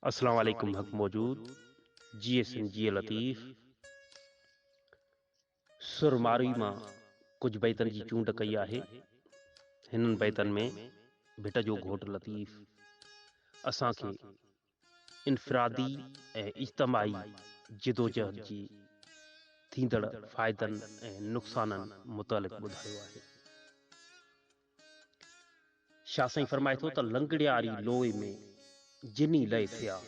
اسلام عليڪم حق موجود جي سن جي لطيف سر مارئي مان ڪجھ بيتن جي چونڊ ڪئي آهي هنن بيتن ۾ ڀٽ جو گھوٽ لطيف اسان کي انفرادي ۽ اجتماعي جدوجهد جي ٿيندڙ فائدن ۽ نقصانن متعلق ٻڌايو آهي. شاهه سائين فرمائي ٿو ته لنگڙياري لوئي ۾ جني لئي ٿياس،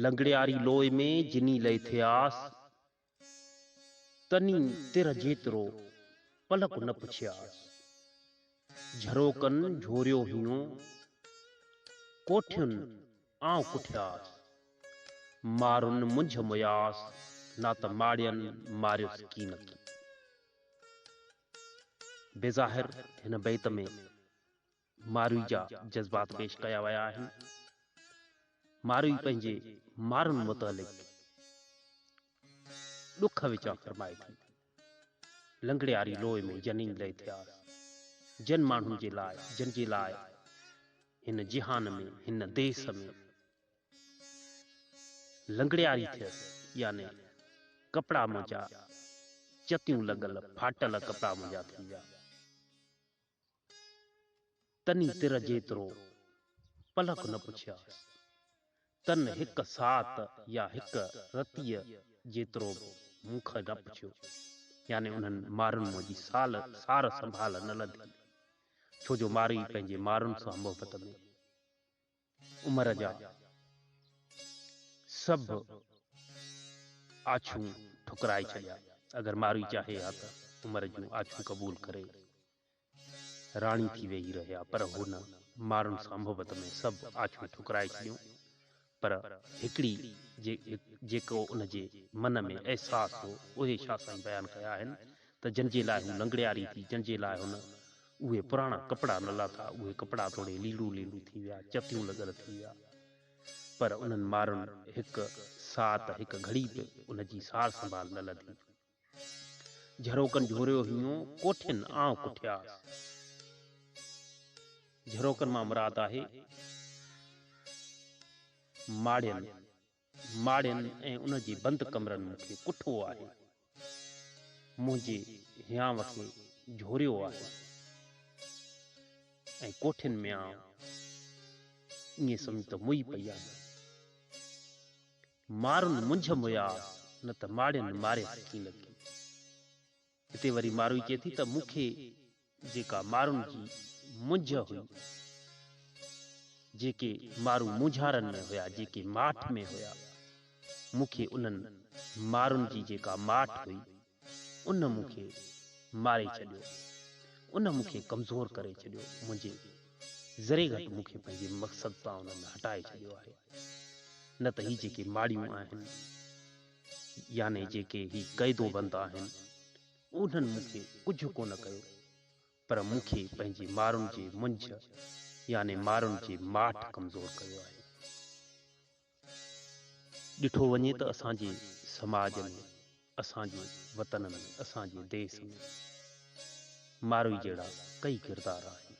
لنگڙياري لوئي ۾ جني لئي ٿياس، تني تر جيترو پلڪ نه پڇياس، جهروڪن جهوريو هيون، ڪوٺين آئون ڪٺياس، مارن منجهه مياس، نات ماڙين ماريس ڪينڪي. بظاهر هن بيت ۾ ماروئي جا جذبات پيش ڪيا ويا آهن. ماروئي پنهنجي مارن متعلق ڏک وچان فرمائي ٿي، لنگڙياري لوئي ۾ جنين لئي ٿياس، جن ماڻهن جي لاء، جن جي لاء هن جهان ۾، هن ديس ۾، لنگڙياري ٿيس يعني ڪپڙا منهنجا چتيون لڳل ڦاٽل ڪپڙا منهنجا ٿي ويا. تني تر جيترو پلڪ نه پڇياس. تن هڪ ساعت يا هڪ رتيء جيترو به مون کان نه پڇيو. يعني انهن مارن منهنجي سال سار سنڀال نه لڌي. ڇو جو مارئي پنهنجي مارن سان محبت ۾. عمر جا سڀ آڇون ٺڪرائي ڇڏيا. اگر ماروي چاهي ها ته عمر جون آڇون قبول ڪري راڻي ٿي ويهي رهيا پر هو نه مارن سان محبت ۾ سڀ آڇون ٺڪرائي ڇڏيون پر هڪڙي جيڪو ان جي من ۾ احساس هو اهي شاهه سائين بيان ڪيا آهن ته جنهن جي لاء هو لنگڙياري ٿي جنهن جي لاء هن اهي پراڻا ڪپڙا نه لاٿا، اهي ڪپڙا توڙي ليڙو ليڙو ٿي ويا، چتيون لڳل ٿي ويا. پر انهن مارن هڪ ساعت، هڪ گهڙي به ان جي سار سنڀال نه لڌي. جهروڪن جهوريو هيون ڪوٺين آئون ڪٺياس. جهروڪن مان مراد آهي ماڙين ماڙين ۽ ان جي بند ڪمرن مون کي ڪٺو آهي، منهنجي هيانء کي جهوريو آهي ۽ ڪوٺين ۾ آئون ائين سمجهه ته موئي پئي آهيان. مارن منجهه موياس نه ته ماڙين ماري سکين لڳي. هتي وري ماروئي چئي ٿي ته مون کي جيڪا مارن جي منجهه هئي، جيڪي مارو مونجهارن ۾ هيا، جيڪي ماٺ ۾ هيا، مون کي انهن مارن جي جيڪا ماٺ هئي، ان مون کي ماري ڇڏيو، ان مون کي ڪمزور ڪري ڇڏيو، منهنجي ذري گهٽ مون کي پنهنجي مقصد تان انهن هٽائي ڇڏيو آهي، نه ته هي جيڪي ماڙيون آهن. يعني جيڪي هي قيدوبند آهن، انهن مون کي ڪجهه ڪونه ڪيو، پر مون کي پنهنجي مارن جي منجهه يعني مارن جي ماٺ ڪمزور ڪيو آهي. ڏٺو وڃي ته اسان جي سماج ۾، اسان جي وطن ۾، اسان جي ديس ۾، ماروئي جهڙا ڪئي ڪردار آهن.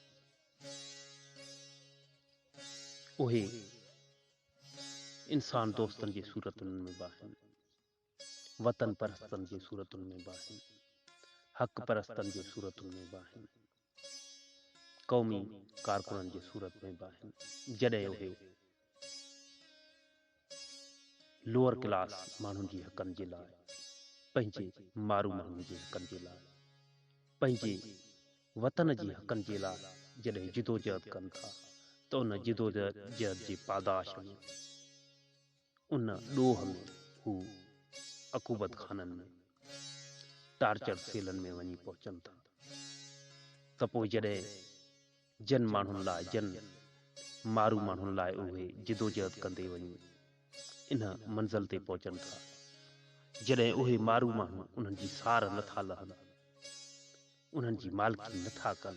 اهي. انسان دوستن جي صورتن ۾ به آهن، وطن پرستن جي صورتن ۾ به آهن، حق پرستن جي صورتن ۾ به آهن، قومي ڪارڪنن جي صورت ۾ به آهن، جڏهن اهي لوئر ڪلاس ماڻهن جي حقن جي لاء، پنهنجي مارو ماڻهن جي حقن جي لاء، پنهنجي وطن جي حقن جي لاء جڏهن جدوجهد ڪن ٿا ته ان جدوجهد جي پاداش ۾ ان ڏوهه ۾ هو عقوبت خانن ۾ ٽارچر سيلن ۾ وڃي پهچن ٿا ته پوء جڏهن جن ماڻهن لاء جن مارو ماڻهن لاء اهي جدوجهد ڪندي وڃي ان منزل تي پهچن ٿا جڏهن اهي مارو ماڻهو انهن جي سار نٿا لهن. انهن جي مالڪي نه ٿا ڪن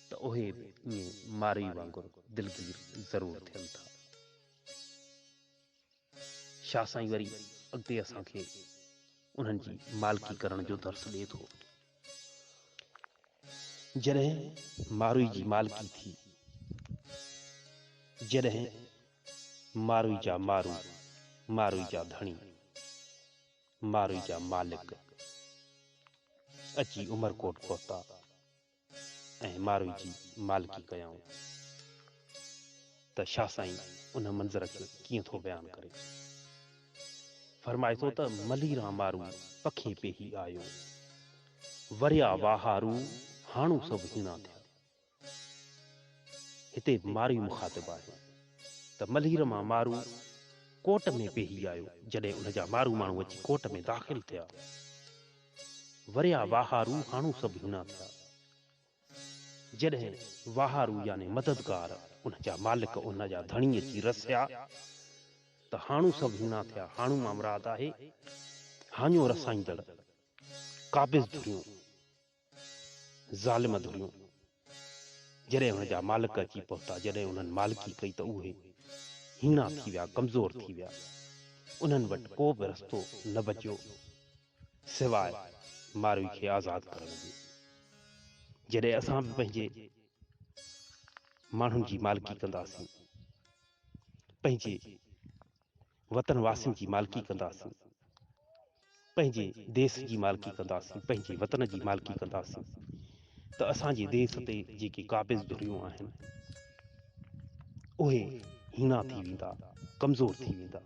ته اهي به ائين مارئي وانگر دلگير ضرور ٿين ٿا. شاهه سائين وري اڳتي اسان کي انهن جي مالڪي ڪرڻ جو درس ڏئي ٿو. جڏهن ماروئي جي مالڪي ٿي، جڏهن ماروئي جا مارو، ماروئي جا ڌڻي. مارئي جا مالڪ اچي عمرڪوٽ پهتا ۽ مارئي جي مالڪي ڪيائون ته شاهه سائين ان منظر کي ڪيئن ٿو بيان ڪري. فرمائي ٿو ته ملي ران مارو پکي پيهي آيو. وريا واهارو هاڻو سڀ هيڻا ٿيا. هتي ماروي مخاطب آهي ته ملهير مان مارو ڪوٽ ۾ پيهي آيو جڏهن ان جا مارو ماڻهو اچي ڪوٽ ۾ داخل ٿيا وريا واهارو هاڻو سڀ هينا ٿيا جڏهن واهارو يعني مددگار ان جا مالڪ ان جا ڌڻي اچي رسيا ته هاڻو سڀ هينا ٿيا هاڻو مان مراد آهي هاڃو رسائيندڙ قابض ڌريون ظالم ڌريون جڏهن ان جا مالڪ اچي پهتا، جڏهن انهن مالڪي ڪئي ته اهي هيڻا ٿي ويا، ڪمزور ٿي ويا، انهن وٽ ڪو به رستو نه بچيو سواء ماروي کي آزاد ڪرڻ جي. جڏهن اسان به پنهنجي ماڻهن جي مالڪي ڪنداسين، پنهنجي. وطن واسين جي مالڪي ڪنداسين پنهنجي ديس جي مالڪي ڪنداسين پنهنجي وطن جي مالڪي ڪنداسين ته اسان جي ديس تي جيڪي قابض ڌريون آهن اهي هينا ٿي ويندا ڪمزور ٿي ويندا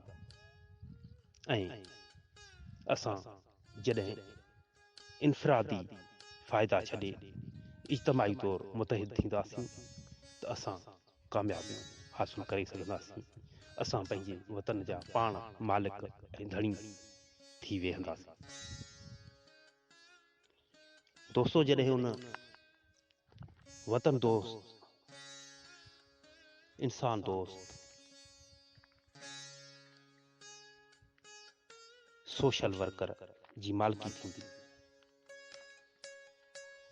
۽ اسان جڏهن انفرادي فائدا ڇڏي اجتماعي طور متحد ٿينداسين ته اسان ڪاميابيون حاصل ڪري سگهنداسين، اسان پنهنجي وطن جا پاڻ مالڪ ۽ ڌڻي ٿي ويهنداسين. دوستو جڏهن ان وطن دوست، انسان دوست، سوشل ورڪر جي مالڪي ٿيندي،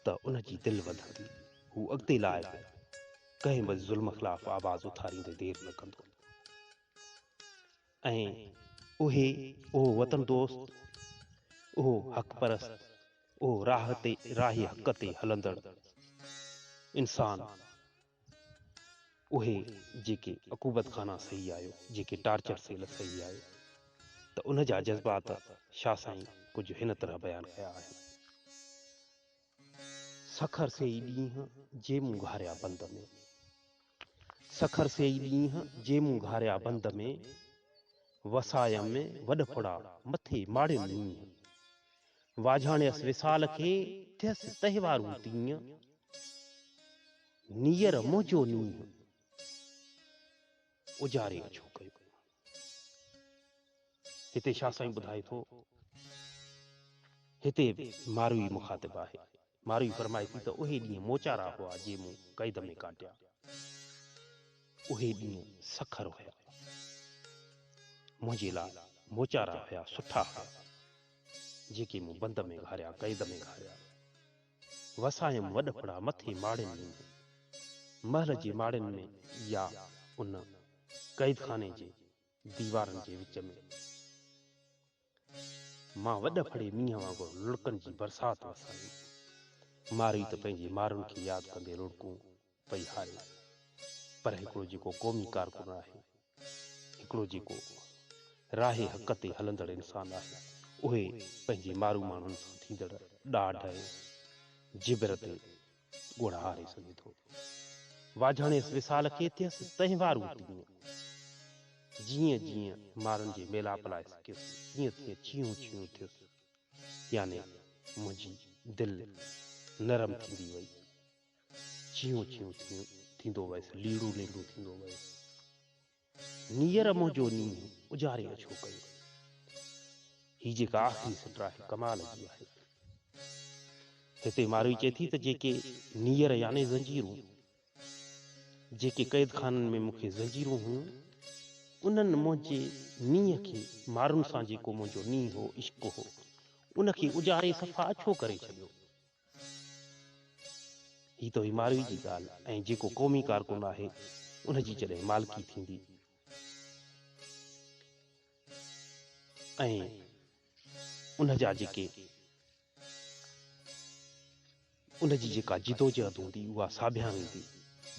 ته ان جي دل وڌندي، هو اڳتي لاء به ڪنهن به ظلم خلاف آواز اٿاريندي دير نه ڪندو ۽ اهي اهو وطن دوست، اهو حق پرست، اهو راهه تي راهي حق تي هلندڙ انسان، اهي جيڪي عقوبت خانه سهي آيو، جيڪي ٽارچر سيل سهي آيو ته ان جا جذبات شاهه سائين ڪجهه هن طرح بيان ڪيا آهن. سکر سي ئي ڏينهن جي مون گهاريا بند ۾. سکر سي ئي ڏينهن جي مون گهاريا بند ۾، وسايم ۾ وڏڦڙا مٿي ماڙين نينهن. واجهاڻيس وصال کي ٿيس تهوارون تيئن، نيئر منهنجو نينهن اجاري اڇو ڪيو. هتي شاهه سائين ٻڌائي ٿو، هتي ماروي مخاطب آهي. ماروي فرمائي ٿي ته اهي ڏينهن موچارا هئا جي مون قيد ۾ ڪاٽيا. اهي ڏينهن سکر هيا. منهنجي لاء موچارا هيا سٺا هيا جيڪي مون بند ۾ گهاريا قيد ۾ گهاريا. وسايم وڏڦڙا مٿي ماڙين ۾ هو. محل جي ماڙين ۾ يا ان قيدخاني جي ديوارن جي وچ ۾. مان وڏ ڦڙي مينهن وانگر لڙڪن جي برسات وسايو. مارئي ته پنهنجي مارن کي ياد ڪندي لڙڪون پئي هاريو. پر هڪڙو جيڪو قومي ڪارڪن آهي، هڪڙو جيڪو راهي حق تي هلندڙ انسان آهي، اهي پنهنجي مارو ماڻهن سان ٿيندڙ ڏاڍ ۽ جبر تي ڳوڙها هاري سگهي ٿو. واجهاڻيس وصال کي ٿيس تهنوارون تيون. جيئن جيئن مارن جي ميلاپ لاء سڪيس تيئن تيئن ڇيهون ڇيهون ٿيس. يعني منهنجي دل نرم ٿيندي وئي. ڇيهون ڇيهون ٿيون ٿيندو ويس ليڙون ليڙون ٿيندو ويس. نيئر منهنجو نينهن اجاري ۾ ڇو ڪيو. هي جيڪا آخري سٽ آهي ڪمال جي آهي. هتي ماروي چئي ٿي ته جيڪي نيئر يعني زنجيرون جيڪي قيد خانن ۾ مون کي زنجيرون هيون انهن منهنجي نينهن کي مارن سان جيڪو منهنجو نينهن هو عشق هو ان کي اجاري صفا ڇو ڪري ڇڏيو. هي توهي ماروي جي ڳالهه ۽ جيڪو قومي ڪارڪن آهي ان جي جڏهن مالڪي ٿيندي ۽ ان جا جيڪي ان جي جيڪا جدوجهد هوندي اها ساڀيان ويندي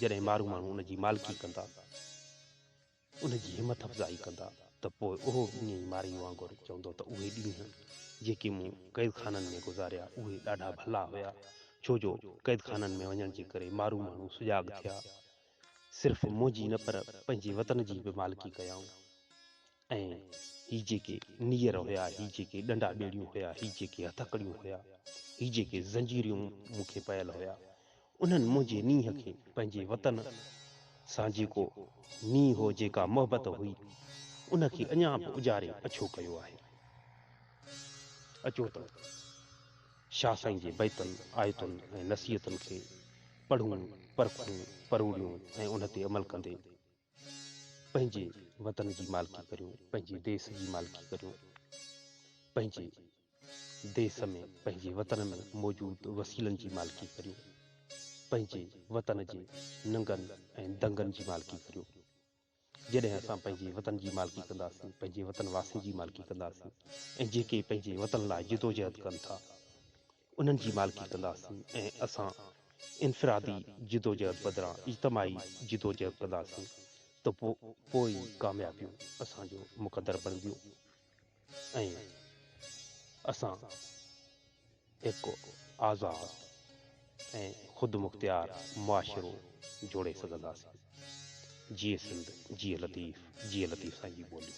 جڏهن مارو ماڻهو ان جي مالڪي ڪندا ان جي همٿ افزائي ڪندا ته پوء اهو به ائين ئي مارئي وانگر چوندو ته اهي ڏينهن جيڪي مون قيدخانن ۾ گذاريا اهي ڏاڍا ڀلا هيا ڇو جو قيدخانن ۾ وڃڻ جي ڪري مارو ماڻهو سجاڳ ٿيا صرف منهنجي نه پر پنهنجي وطن جي به مالڪي ڪيائون ۽ هي جيڪي نيئر هيا هي جيڪي ڏنڊا ٻيڙيون هيا هي جيڪي هٿڪڙيون هيا هي جيڪي زنجيريون مون کي پيل هيا انهن منهنجي نينهن کي پنهنجي وطن سان جيڪو نينهن هو جيڪا محبت هئي ان کي اڃا به اجاري اڇو ڪيو آهي. اچو ته شاهه سائين جي بيتن، آيتن ۽ نصيحتن کي پڙهون، پرکون، پروڙيون ۽ ان تي عمل ڪندي، پنهنجي وطن جي مالڪي ڪريون پنهنجي ديس جي مالڪي ڪريون پنهنجي ديس ۾ پنهنجي وطن ۾ موجود وسيلن جي مالڪي ڪريون پنهنجي وطن جي ننگن ۽ دنگن جي مالڪي ڪريون جڏهن اسان پنهنجي وطن جي مالڪي ڪنداسين پنهنجي وطن واسين جي مالڪي ڪنداسين ۽ جيڪي پنهنجي وطن لاء جدوجهد ڪن ٿا انهن جي مالڪي ڪنداسين ۽ اسان انفرادي جدوجهد بدران اجتماعي جدوجهد ڪنداسين ته پوء ئي ڪاميابيون اسان جو مقدر بڻبيون ۽ اسان هڪ آزاد ۽ خودمختيار معاشرو جوڙي سگهنداسين. جيئي سنڌ جيئي لطيف جيئي لطيف سائين جي ٻولي.